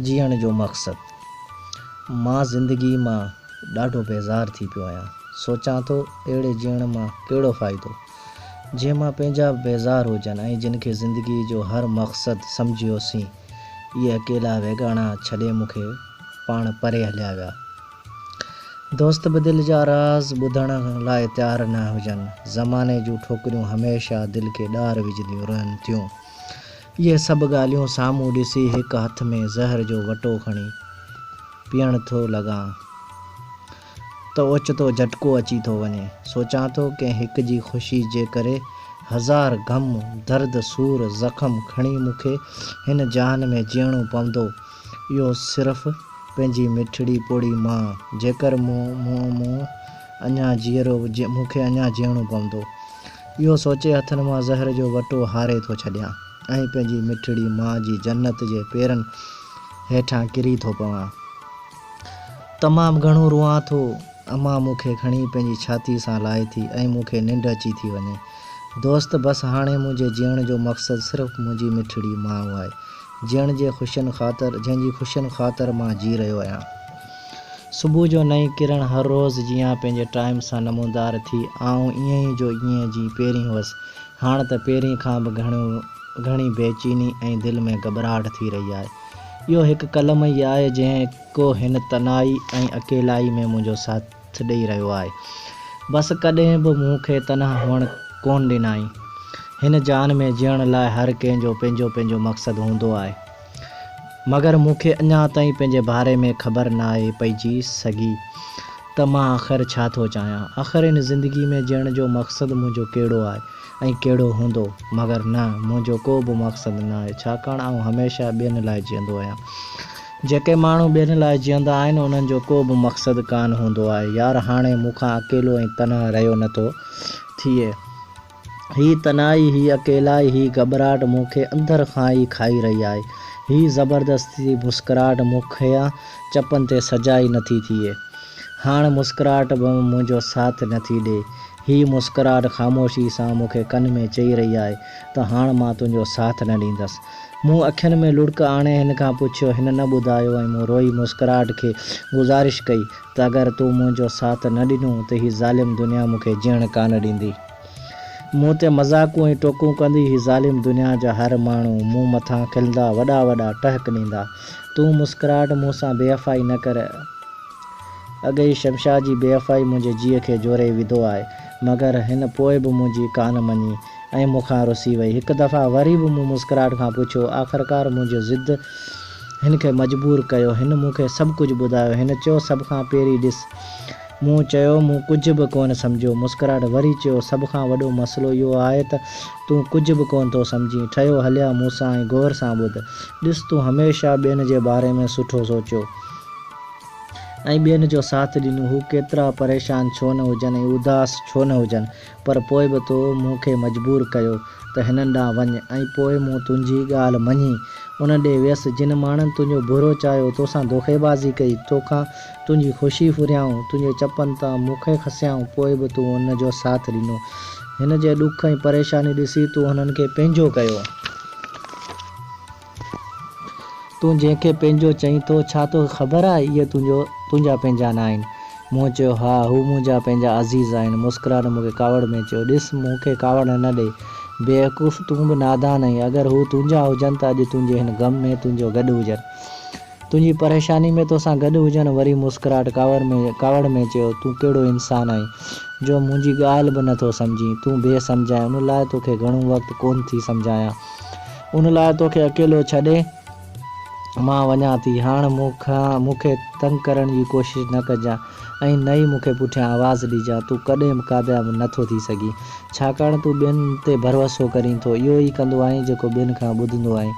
جيئڻ جو مقصد. مان زندگي مان ڏاڍو بيزار ٿي پيو آهيان. سوچان ٿو اهڙي جيئڻ مان ڪهڙو فائدو؟ جنهن مان پنهنجا به بيزار هجن ۽ جن کي زندگي جو هر مقصد سمجهيوسين، اهي اڪيلا ويڳاڻا ڇڏي مون کي پاڻ پري هليا ويا. دوست به دل جا راز ٻڌڻ لاء تيار نه هجن. زماني جون ٺوڪريون هميشه دل کي ڏار وجهنديون رهن ٿيون. اهي سڀ ڳالهيون سامهون ڏسي هڪ هٿ ۾ زهر جو وٽو کڻي پيئڻ ٿو لڳان ته اوچتو جهٽڪو اچي ٿو وڃي. سوچان ٿو ڪنهن هڪ جي خوشي جي ڪري هزار غم، درد، سور، زخم کڻي مون کي هن جهان ۾ جيئڻو پوندو اهو صرف پنهنجي مٺڙي پوڙهي مان. جيڪر مون مون اڃا جيئرو مون کي اڃا جيئڻو پوندو. اهو سوچي هٿن مان زهر جو وٽو هاري ٿو ڇڏيان ۽ پنهنجي مٺڙي ماء جي جنت جي پيرن هيٺان ڪري ٿو پوان. تمام گهڻو روئان ٿو. امان مون کي کڻي پنهنجي ڇاتي سان لائي ٿي ۽ مون کي ننڊ اچي ٿي وڃي. دوست بس هاڻي منهنجي جيئڻ جو مقصد صرف منهنجي مٺڙي ماء آهي جنهن جي خوشين خاطر جنهن جي خوشين خاطر مان جي رهيو آهيان. صبح جو نئين ڪرڻ هر روز جيان پنهنجي ٽائيم سان نمودار ٿي. آئون ائين جو ائين جي پهرين هئس. هاڻ ته پهرين کان به گهڻو گهڻي بي چيني ۽ دل ۾ گهٻراهٽ ٿي رهي آهي. اهو هڪ قلم ئي آهي جنهن ڪو هن تنهائي ۽ اڪيلائي ۾ منهنجو ساٿ ڏئي رهيو آهي. بس ڪڏهن به مون کي تنها هئڻ ڪونه ڏنائين. هن جهان ۾ جيئڻ لاء هر ڪنهن جو پنهنجو پنهنجو مقصد هوندو آهي. مگر مون کي اڃا تائين پنهنجي باري ۾ خبر ناهي پئجي سگهي ته مان آخر ڇا ٿو چاهيان. آخر هن زندگي ۾ جيئڻ جو مقصد منهنجو ڪهڙو آهي ۽ ڪهڙو هوندو. مگر نه، منهنجو ڪو به مقصد ناهي، ڇاڪاڻ آئون هميشه ٻين لاء جيئندو آهيان. جيڪي ماڻهو ٻين لاء جيئندا آهن، انهن جو ڪو به مقصد ڪانه هوندو آهي. يار هاڻي مون کان اڪيلو ۽ تنها رهيو نٿو ٿئي. هي تنهائي، هي اڪيلائي، هي گهٻراٽ مون کي اندر کان ئي کائي رهي آهي. هي زبردستي جي مسڪراهٽ مون کان چپن تي سجائي نٿي ٿئي. هاڻ مسڪراهٽ به منهنجو ساٿ نٿي ڏئي. هي مسڪراهٽ خاموشي سان مون کي ڪن ۾ چئي رهي آهي ته هاڻ مان تنهنجو ساٿ نه ڏيندس. مون اکين ۾ لڙڪ آڻي هن کان پڇيو. هن نه ٻڌايو ۽ مون روئي مسڪراهٽ کي گذارش ڪئي ته اگر تون منهنجو ساٿ نه ڏنو ته هي ظالم دنيا مون کي جيئڻ ڪانه ڏيندي. مون تي مذاقون ۽ ٽوڪون ڪندي هي ظالم دنيا جا هر ماڻهو مون مٿان کلندا وڏا وڏا ٽهڪ ڏيندا. تون مسڪراهٽ مون سان بي وفائي نه ڪر. اڳ ئي شمشاد جي بي وفائي منهنجي جيء کي جوري وڌو آهي. مگر هن پوء به منهنجي ڪانه مڃي ۽ مون کان رسي وئي. هڪ دفعا وري به مون مسڪراهٽ کان پڇيو آخرڪار منهنجي ضد. هن کي مجبور ڪيو. هن مون کي سڀ ڪجهه ٻڌايو. هن چيو، سڀ کان پهرين ڏس. مون چيو، مون ڪجهه به ڪونه سمجهيو. مسڪراٽ وري چيو، سڀ کان وڏو مسئلو اهو آهي ته تون ڪجهه به ڪونه ٿو سمجهين. ٺهيو هليا مون سان ۽ غور سان ٻڌ. ڏس تون هميشه ٻين جي باري ۾ سٺو سوچيو ۽ ٻين جو ساٿ ڏنو. هو ڪيترا پريشان ڇو نه هجن ۽ اداس ڇو نه هجن. پر پوء به تو مون کي مجبور ڪيو ته هنن ڏانهن وڃ ۽ پوء مون تنهنجي ڳالهه مڃي انهن ڏي ويس، جن ماڻهن تنهنجو برو چاهيو، تو سان دوکيبازي ڪئي، تو کان تنهنجي خوشي ڦريائون، تنهنجي چپن تان مون کي کسيائون، پوء به تون ان جو ساٿ ڏنو. هن جي ڏک ۽ پريشاني ڏسي تون هنن کي پنهنجو ڪيو. تون جنهن کي پنهنجو چئين ٿو، ڇا توکي خبر آهي اهي تنهنجو تنهنجا پنهنجا ناهن؟ مون چيو، ها، هو منهنجا پنهنجا عزيز آهن. مسڪرائڻ مون کي ڪاوڙ ۾ چيو، ڏس، مون کي ڪاوڙ نه ڏي. بيوقوف، تون به نادان آهين. اگر هو تنهنجا هجن ته اڄ تنهنجي هن غم ۾ تنهنجو گڏ هجن. تنهنجي پريشاني ۾ توسان گڏ هجن. وري مسڪرائڻ ڪاوڙ ۾ ڪاوڙ ۾ چيو، تون ڪهڙو انسان آهين، جو منهنجي ڳالهه به نه ٿو سمجهين. تون بي سمجهه آهين، ان لاء توکي گهڻو وقت ڪونه ٿي سمجهايان. ان لاء توکي اڪيلو ڇڏي مان وڃان ٿي. هاڻ مون کان مون کي تنگ ڪرڻ جي ڪوشش نه ڪجان ۽ نه ئي مون کي پٺيان آواز ڏجان. تون ڪڏهن به ڪامياب نه ٿو ٿي سگهين. ڇاڪاڻ تون ٻين تي ڀروسو ڪرين ٿو. اهو ئي ڪندو آهين جيڪو ٻين کان ٻڌندو آهين.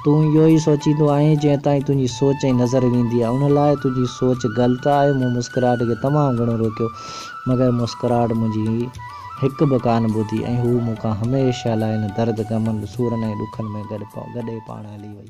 تون اهو ئي سوچيندو آهين جنهن تائين تنهنجي سوچ ۽ نظر ويندي آهي. ان لاء تنهنجي سوچ غلط آهي. مون مسڪراهٽ کي تمام گهڻو روڪيو مگر مسڪراهٽ منهنجي. هڪ به ڪانه ٻڌي ۽ هوء مون کان هميشه لاء هن درد، غمن، سورن ۽ ڏکن ۾ گڏي پاڻ هلي وئي.